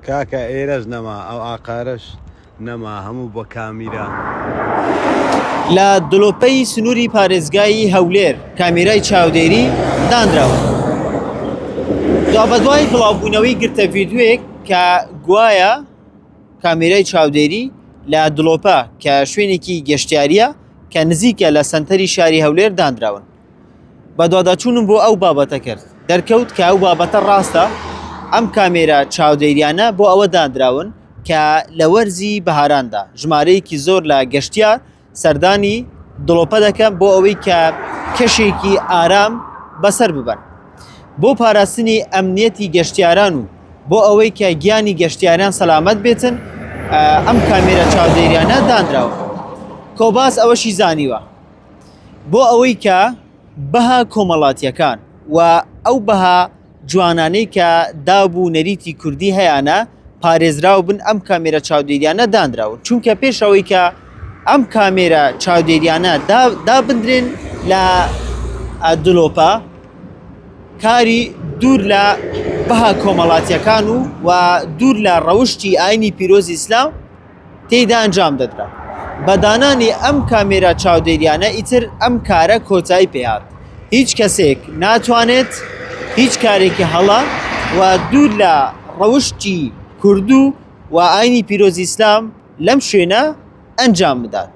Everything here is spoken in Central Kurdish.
کاکە ئێرەش نەما ئەو ئاقارەش نەما هەموو بە کامیرا. لە دڵۆپەی سنووری پارێزگای هەولێر کامێرای چاودێری دانراوە دوابەدوای بڵاوبوونەوەی گرتە ڤیددیوێک کە گوایە کامێرای چاودێری لە دڵۆپە کە شوێنێکی گەشتیاریە کە نزیکە لە سەنتەری شاری هەولێر دانراون بەدواداچوونم بۆ ئەو بابەتە کرد دەرکەوت کە ئەو بابەتە ڕاستە ئەم کامێرا چاودێریانە بۆ ئەوە دانراون کە لە وەرزی بەهاراندا ژمارەیەکی زۆر لە گەشتیار سەردانی دڵۆپە دەکەن بۆ ئەوەی کە کەشێکی ئارام بەسەر ببەن بۆ پاراستنی ئەمنیەتی گەشتیاران و بۆ ئەوەی کە گیانی گەشتیاران سەلامەت بێتن ئەم کامێرە چاودێریانە دانراوە کۆباس ئەوەشی زانیوە بۆ ئەوەی کە بەها کۆمەڵاتیەکان و ئەو بەها جوانانەی کە داب و نەریتی کوردی هەیانە پارێزراو بن ئەم کامێرە چاودێریانە دانراون چونکە پێش ئەوەی کە ئەم کامێرە چاودێریانە دابدرێن لە دلۆپە کاری دوور لە بەها کۆمەڵاتیەکان و و دوور لە ڕەوشی ئاینی پیرۆزی ئیسلام تێیدا ئەنجام دەدرا. بە دانانی ئەم کامێرا چاودێریانە ئیتر ئەم کارە کۆتایی پێ هات. هیچ کەسێک ناتوانێت هیچ کارێکی هەڵە و دوور لە ڕەوشتی کوردو و ئاینی پیرۆزی ئیسلام لەم شوێنە ئەنجام بدات.